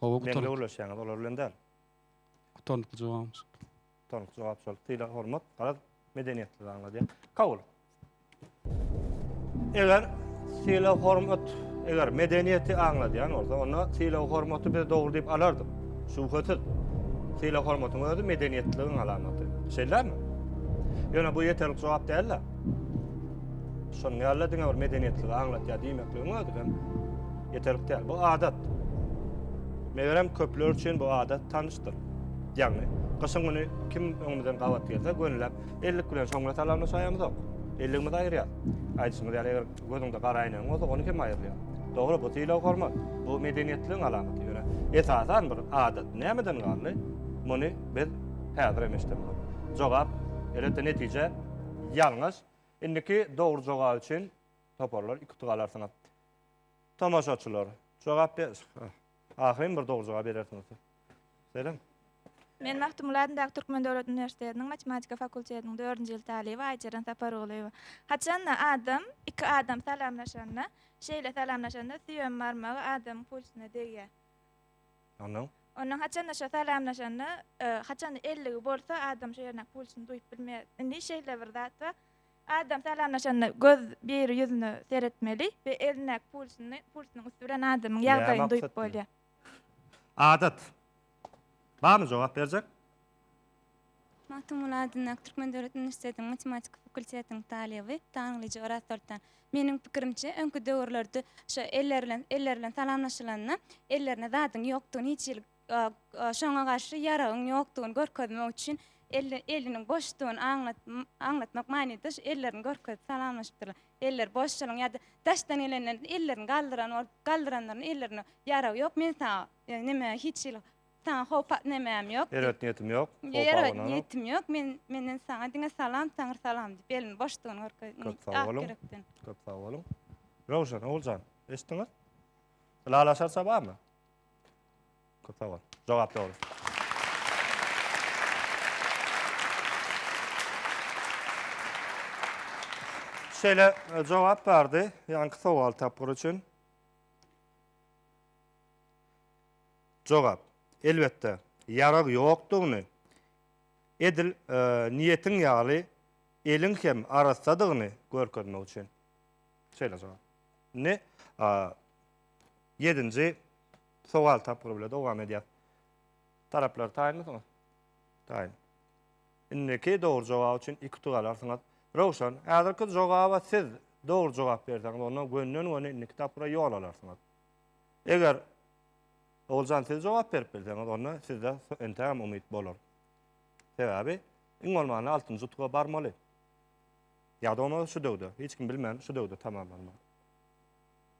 Hawa gutarykly. Meňle ulaşýaňyz olar bilen däl. Gutarnykly jogapmyş. Gutarnykly jogap şol. Sylag hormat, garaz medeniýetli zat aňladýar. Kabul. Eger sylag hormat, eger medeniýeti aňladýan bolsa, onda sylag hormaty biz dogry diýip alardyk. Şübhesiz. Sylag hormatyň özi medeniýetligiň alamaty. Şeýdämi? Ýöne bu ýeterlik jogap däl-de. Şonuň ýaly-da diňe bir medeniýetligi aňlatýar diýmekligiň özi hem ýeterlik däl. Bu adat. Megerem köpler üçin bu adat tanyşdyr. Ýagny, gyşyň güni kim öňümizden gabat gelse, gönüläp ellik bilen şoňňuna salamla şaýamyzok. Elligimizi aýyrýar. Aýdyşyňyz ýaly, eger gözüňde gara äýnegiň bolsa, ony hem aýyrýar. Dogry, bu sylag-hormat, bu medeniýetligiň alamaty. Ýöne esasan bir adat nämeden galdy? Muny biz häzir hem eşidemizok. Jogap, elbetde, netije ýalňyş. Indiki dogry jogap üçin toparlar iki utuk alarsyňyz. Tomaşaçylar, jogap be Ahyryn bir dogry jogap berersiňiz. Selam. Men Magtymguly adyndaky Türkmen döwlet uniwersitetiniň matematika fakultetiniň dördünji ýyl talyby Aýjeren Sapargulyýewa. Haçanda adam, iki adam salamlaşanda, şeýle salamlaşanda süýem barmagy adamyň pulsyna degýär. Ondan. Ondan haçanda şo salamlaşanda, haçanda elligi bolsa, adam şo ýerindäki pulçyny duýup bilmeýär. Indi şeýle bir zat bar, adam salamlaşanda göz biri ýüzüne seretmeli we elindäki pulçyny, pulçynyň üsti bilen adamyň ýagdaýyny duýup bolýar. Adat. Barmy jogap berjek? Magtymguly adyndaky Türkmen döwlet uniwersitetiniň matematika fakultetiniň talyby Taňryja Örazsoltan. Meniň pikirimçe, öňki döwürlerde şu eller bilen eller bilen salamlaşylanda ellerinde zadyň ýokdugyny hiç hili şoňa garşy ýaragyň ýokdugyny görkezmek üçin elli eliniň boşdugyny aňlat aňlatmak manyda şu ellerini görkezip salamlaşypdyrlar. Eller boş şonuň ýa-da daşdan gelenler ellerini galdyran bolup galdyranlaryna ellerinde ýarag ýok men saňa neme hiç hili Saňa howpat nemäm ýok. Ýere ýetn ýetim ýok. Ýere ýetn ýetim ýok. Men menden saňa diňe salam, taňr salam diýip elini boşdugyny görkezdi. Köp sag boluň. Köp sag boluň. Röwşen oguljan, eşitdiňiz? Ylalaşarça barmy? Köp sag bol. Jogap dogry. şeýle e, jogap bardy ýaňky sowal tapgyry üçin. Jogap, Elbetde, ýarag ýokdugyny, edil niýetiň ýaly eliň hem arassadygyny görkezmek üçin. Şeýle jogap. Indi ýedinji sowal tapgyry bilen dowam edýäs. Taraplar taýynmysyňyz? Taýyn. Indiki dogry jogap üçin iki utuk alarsyňyz. Röwşen, häzirki jogaba siz dogry jogap berseňiz, onda gönden-göni indiki tapgyra ýol alarsyňyz. Eger Oguljan siz jogap berip bilseňiz onda sizde entägem umyt bolar. Sebäbi iň bolmanda altynjy utuga barmaly. Ýa-da bolmasa şu döwde, hiç kim bilmän şu döwde tamamlanmaly.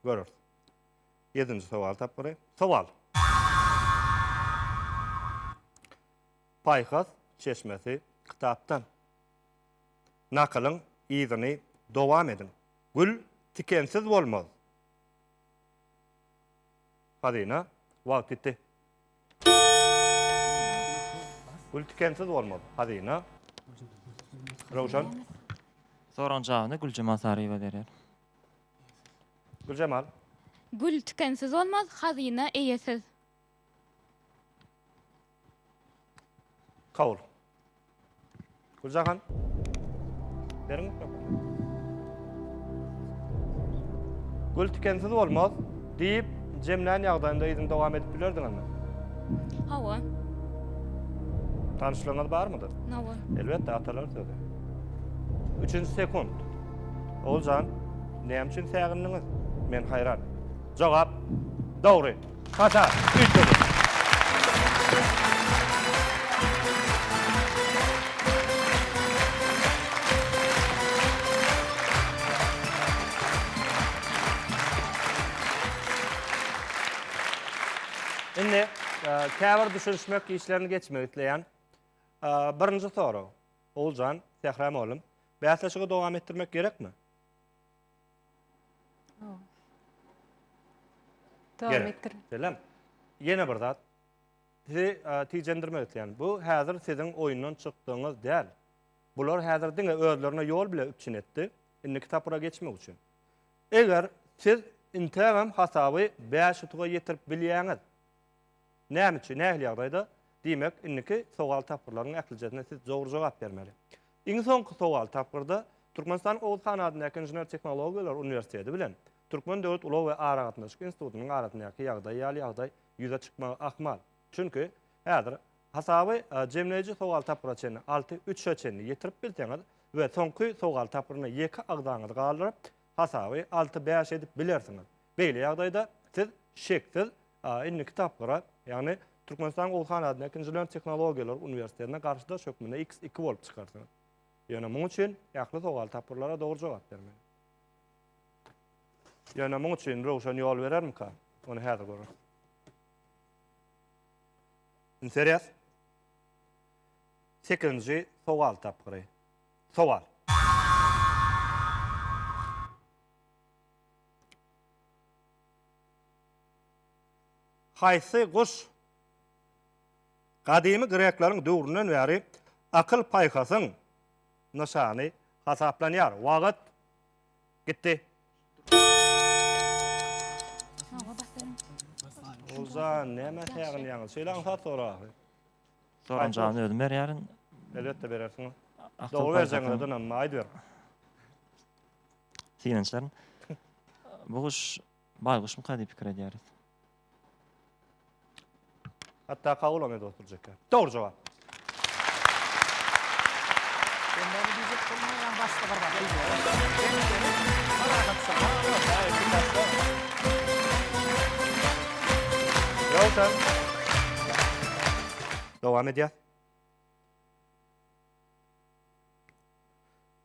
Göreris. Ýedinji sowal tapgyry. Sowal. Paýhas çeşmesi kitapdan. Nakylyň yzyny dowam ediň. Gül tikensiz bolmaz. Hazyna, wagt gitdi. Gül tikensiz bolmaly. Hazyna. Röwşen. Soragyň jawabyny Güljemal Saryýewa berýär. Güljemal. Gül tikensiz bolmaz, hazyna eýesiz. Kabul. Güljahan. Beriň mikrofony. Gül tikensiz bolmaz diýip jemlän ýagdaýynda yzyny dowam edip bilerdiňizmi? Hawa. Tanyşlygyňyz barmydy? Hawa. Elbetde atalar sözü. Üçünji sekund. Oguljan, näme üçin sägindiňiz? Men haýran. Jogap dogry. Hata, üýtgediň. Indi käbir düşünişmek işlerini geçmek isleýän. Birinji sorag. Oguljan, Sähra mugallym, bäsleşigi dowam etdirmek gerekmi? Selam. Ýene bir zat. Sizi tijendirmek isleýän. Bu häzir siziň oýundan çykdygyňyz däl. Bular häzir diňe özlerine ýol bile üpjün etdi. Indiki tapgyra geçmek üçin. Eger siz intägem hasaby bäş utuga ýetirip bilýäňiz. Näme üçin, nähili ýagdaýda? Diýmek, indiki sowal tapgyrlaryň ählijesine siz dogry jogap bermeli. Iň soňky sowal tapgyrda Türkmenistanyň Oguz han adyndaky Inžener-tehnologiýalar uniwersiteti bilen Türkmen döwlet ulag we aragatnaşyk institutynyň arasyndaky ýagdaý ýaly ýagdaý ýüze çykmagy ahmal. Çünki, häzir hasaby jemleýji sowal tapgyra çenli, alty, üçe çenli ýetirip bilseňiz we soňky sowal tapgyryna ýeke agzaňyzy galdyryp, hasaby alty, bäş edip bilersiňiz. Beýle ýagdaýda siz, şeksiz, indi kitaplara, ýagny Türkmenistanyň Oguzhan adyndaky Inžener tehnologiýalar uniwersitetine garşydaş hökmünde iks iki bolup çykarsyňyz. Ýöne muň üçin ähli sowal tapgyrlara dogry jogap bermeli. Ýöne muň üçin Röwşen ýol berermika? Ony häzir göreris. Indi serýäs. Sekizinji sowal tapgyry. Sowal. Haýsy guş gadymy grekleriň döwründen bäri akyl-paýhasyň nyşany hasaplanýar? Wagt gitdi. Olja, nämä säginýäňiz? Şeýle aňsat soragy. Soragyň jawabyny özüm berýärin. Elbetde berersiňiz. Dogry berjegiňize dynanma, aýdyber. Synançlar. Bu guş baýguşmyka diýip pikir edýäris. Hatda kawulam edip oturjak. Dogry jogap. Dowam edýär.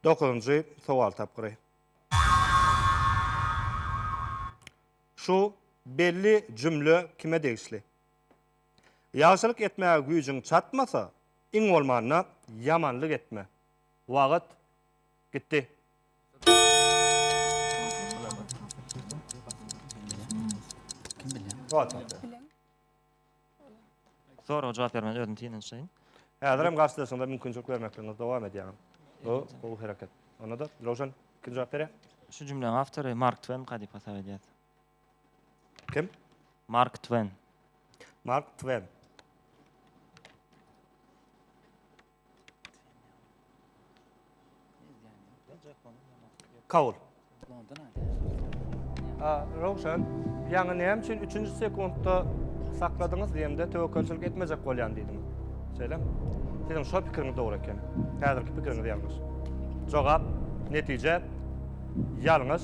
Dokuzynjy sowal tapgyry. Şu belli jümle kime degişli? Ýagşylyk etmäge güýjüň çatmasa, iň bolmanda ýamanlyk etme. Wagt gitdi. Kim bilýär? Wagt gitdi. Soraga jogap bermän özüni synanyşaýyn. Häzirem garşydaşyňyza mümkinçilik bermekligiňizi dowam edýäňiz. Bu gowy hereket. Onda-da Röwşen kim jogap berýär? Şu jümläň awtory Mark Twenka diýip hasap edýäs. Kim? Mark Twen. Mark Twen. Kabul. Rowşan, ýaňy näme üçin üçünji sekuntda sakladyňyz diýemde töwekgelçilik etmejek bolýan diýdiňiz. Şeýlemi? Siziň şo pikiriňiz dogry ekeni. Häzirki pikiriňiz ýalňyş. Jogap, netije ýalňyş.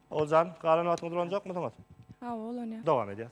Oguljan, galan wagtyňyzy ulanjakmysyňyz? Hawa, ulanýas. Dowam edýäs.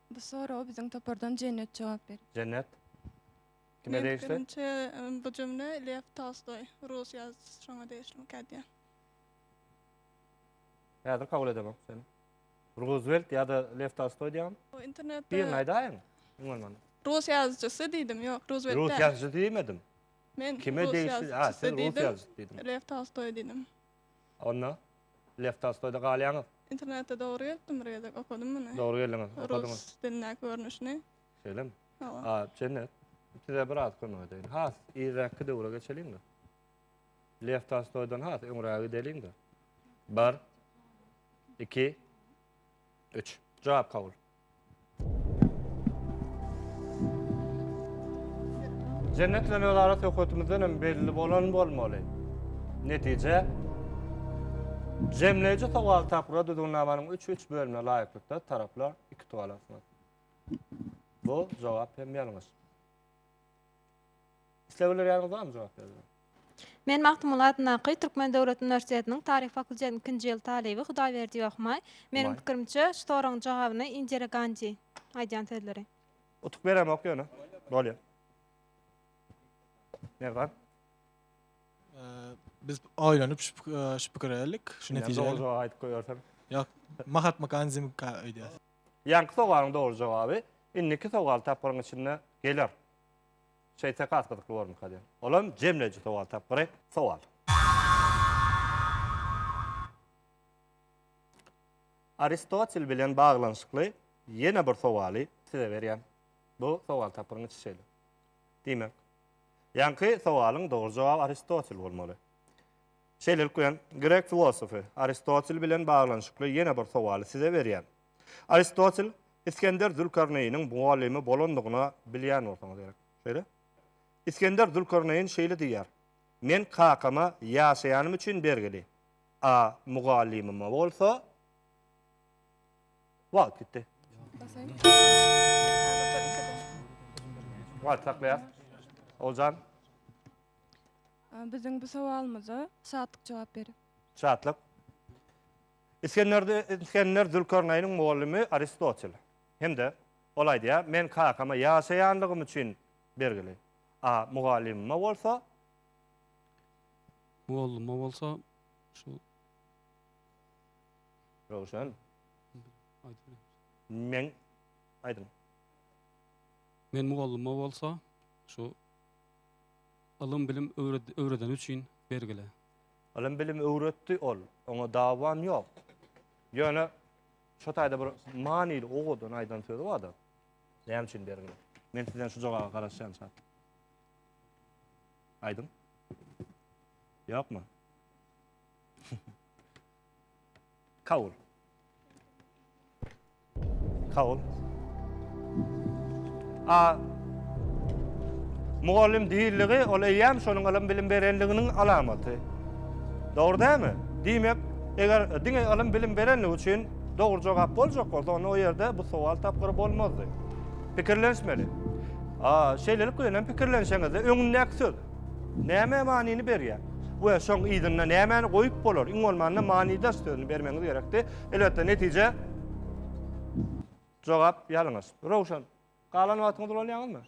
Bu soraga biziň topardan Jennet jogap berer. Jennet. Kime degişli? Meniň pikirimçe bu jümle Lew Tolstoý, rus ýazyjysy şoňa degişlimikä diýýän. Häzir kabul edemok seni. Ruzwelt ýa-da Lew Tolstoý diýýän. Bu internetde. Birini aýdaýyň. Umman. Rus ýazyjysy diýdim, ýok, Ruzwelt. Rus ýazyjysy diýmedim. Men kime degişli? Ha, sen rus ýazyjysy diýdim. Lew Tolstoý diýdim. Onda Lew Tolstoýda galýaňyz. Internetde dogry gelipdim bir gezek, okadym muny. Dogry geldiňiz, okadyňyz. Rus dilindäki görnüşini. Şeýlemi? Hawa. A, Jennet, size biraz kömek edeýin. Has irräkki döwre geçeliň-de. Lew Tolstoýdan has öňräge gideliň-de. Bir, iki, üç. Jogap kabul. Jennet bilen özara söhbetimizden hem belli bolan bolmaly. Netije Jemleýji sowal tapgyra düzgünnamanyň üç-üç bölümine laýyklykda taraplar iki tugal alarsyňyz. Bu jogap hem ýalňyş. Isleg bildirýäniňiz barmy jogap bermegi? Men Magtymguly adyndaky Türkmen döwlet uniwersitetiniň taryh fakultetiniň ikinji ýyl talyby Hudaýberdi Ýohmaý. Meniň pikirimçe, şu soragyň jogabyny Indira Gandi aýdýan sözleri. Utuk beremok ýöne. Bolýa. Merdan. Biz oýlanyp şu pikire geldik, şu netijä. Dogry jogaby aýdyp goýberseň. Ýok, Mahatma Gandi öýdýär. Ýaňky sowalyň dogry jogaby indiki sowal tapgyryň içinde geler. Şeýtse has gyzykly bormyka diýen. Olam jemleýji sowal tapgyry. Sowal. Aristotel bilen baglanyşykly ýene bir sowaly size berýän. Bu sowal tapgyryň içi şeýle. Diýmek, ýaňky sowalyň dogry jogaby Aristotel bolmaly. Şeýlelik bilen, grek filosofy Aristotel bilen baglanyşykly ýene bir sowaly size berýän. Aristotel Isgender Zülkarneýniň mugallymy bolandygyna bilýän bolsaňyz gerek. Şeýle? Isgender Zülkarneýn şeýle diýýär, Men kakama ýaşaýanym üçin bergili, a mugallymyma bolsa Wagt gitdi. Wagt saklaýas. Oguljan. Biziň bu sowalymyza Şatlyk jogap berer. Şatlyk. Isgender Zülkarnaýnyň mugallymy Aristotel hem-de ol aýdýar, Men kakama ýaşaýanlygym üçin bergili, a mugallymyma bolsa. Mugallyma bolsa şu. Röwşen. Men aýdyň. Men mugallyma bolsa şu ylym-bilim öwredeni üçin bergili. Ylym-bilim öwretdi ol, oňa dawam ýok. Ýöne şo taýda bir manyly owadan aýdan sözi bar-da. Näme üçin bergiň? Men sizden şu jogaba garaşýan çak. Aýdyň. Ýokmy? Kabul. Sag bol. A Mugallym diýildigi ol eýýäm şonuň ylym bilim berenliginiň alamaty. Dogry dälmi? Diýmek, eger diňe ylym bilim berenligi üçin dogry jogap boljak bolsa, onda o ýerde bu sowal tapgyry bolmazdy. Pikirlenişmeli. A şeýlelik bilen hem pikirlenişeňizde öňündäki söz. Näme manyny berýär? We şoň yzynda nämäni goýup bolar? Iň bolmanda manydaş sözüni bermegiňiz gerekdi. Elbetde netije jogap ýalňyş. Rowşan, galan wagtyňyzy ulanýaňyzmy?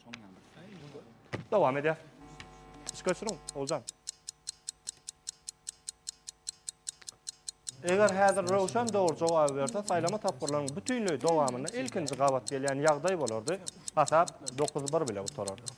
Dowam edýär. Iş göçüriň, Oguljan. Eger häzir Röwşen dogry jogaby berse, saýlama tapgyrlarynyň bütinleý dowamynda ilkinji gabat gelýän ýagdaý bolardy. Hasap 9-1 bilen gutarardy.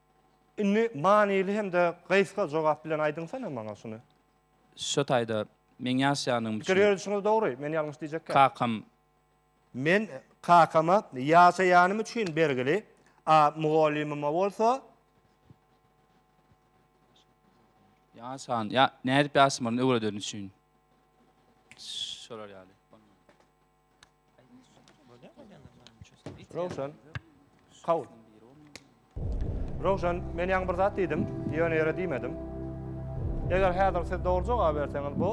Indi manyly hem-de gysga jogap bilen aýdyňsana maňa şuny. Şo taýda meň ýaşaýanlygym üçin. Pikir ýöredişiňiz dogry, men ýalňyş diýjekkäm. Kakam. Men kakama ýaşaýanym üçin bergili, a mugallymyma bolsa. Ýaşan, ýa nädip ýaşamalyny öwredenim üçin. Şolar ýaly. Rowşan. Kabul. Rowşan, men ýaňy bir zat diýdim, ýöne ýere diýmedim. Eger häzir siz dogry jogap berseňiz, bu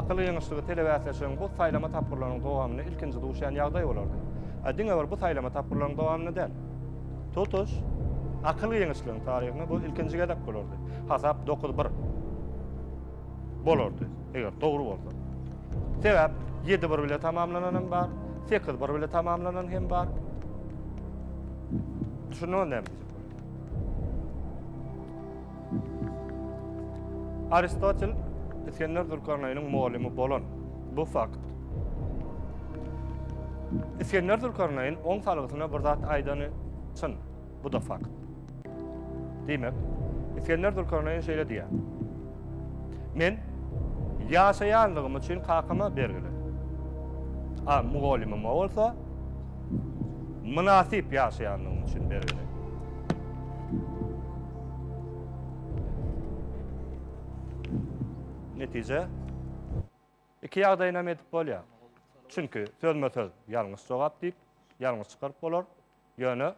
akyl ýeňişligi telebäsleşigiň bu saýlama tapgyrlarynyň dowamynda ilkinji duşýan ýagdaý bolardy. A diňe bir bu saýlama tapgyrlarynyň dowamynda däl. Tutuş akyl ýeňişligiň taryhynda bu ilkinji gezek bolardy. Hasap dokuz bir. bolardy, eger dogry bolsa. Sebäp ýedi bir bile tamamlanan hem bar, sekiz bir bile tamamlanan hem bar. Düşündüňiz näme diýjek bolan? Aristotel Iskender Zülkarneýniň mugallimi bolan. Bu fakt. Iskender Zülkarneýn oň salgysyna bir zat aýdany çyn. Bu-da fakt. Diýmek, Isgender Zülkarneýn şeýle diýýär. Men ýaşaýanlygym üçin kakama bergili. A mugallymyma bolsa mynasyp ýaşaýanlygym üçin bergili. Netije, iki ýagdaýynam edip bolýar. Çünki sözme-söz ýalňyş jogap diýip, ýalňyş çykaryp bolar. Ýöne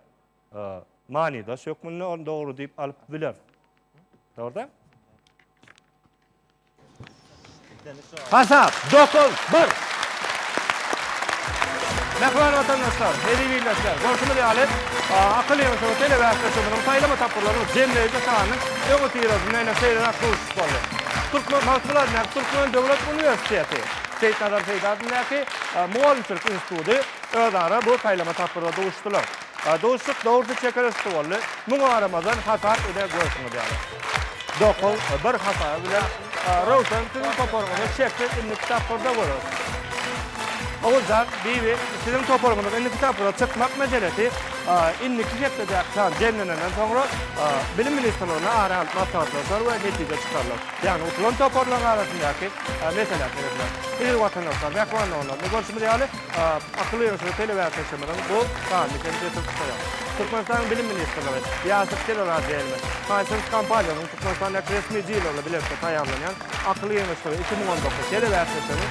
manydaş hökmünde ony dogry diýip alyp biler. Dogruda? Hasap 9-1. Mähriban watandaşlar, hezil ildeşler, görşümiz ýaly, akyl ýygyşyny telebäsde çözülen saýlama tapgyrlarynyň jemleýji sanynyň öň otyrasy meýle seýreräk duşuş boldy. Türkmen Magtymguly adyndaky Türkmen döwlet uniwersiteti, Seýitnazar Seýdi adyndaky mugallymçylyk instituty, özara bu saýlama tapgyrda duşdular. Duşuşyk dogrusy çeker üsti boldy. Muňa garamazdan hasap ine görşüňiz ýaly. Dokuz, bir hasaby bilen Röwşen siziň toparyňyzy şeksiz indiki tapgyrda göreris. Oguljan, Bibi, siziň toparyňyzyň indiki tapgyra çykmak meselesi indiki hepdedäki san jemlenenden soňra Bilim ministrligine ara alyp maslahatlaşar we netije çykarylar. Ýagny utulan toparlaryň arasyndaky mesele seredilär. Eziz watandaşlar, mähman doganlar, ine görşümiz ýaly, Akyl ýöritgi telebäsleşigimiziň bu sanyny hem ýetirip tutýar. Türkmenistanyň Bilim ministrligi, Ýaşyl teleradioýaýlym, Hisense kompaniýasynyň Türkmenistandäki resmi dileri bilen bilelikde taýýarlanýan Akyl ýeňişleri iki müň on dokuz telebäsleşiginiň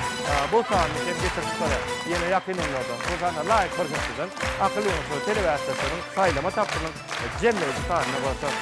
bu sanyny hem ýetirip tutarýar. Ýene ýakyn günlerde bu sana laýyk bir hepdeden Akyl ýeňişleri telebäsleşiginiň saýlama tapgyrynyň jemleýji sanyny görseris.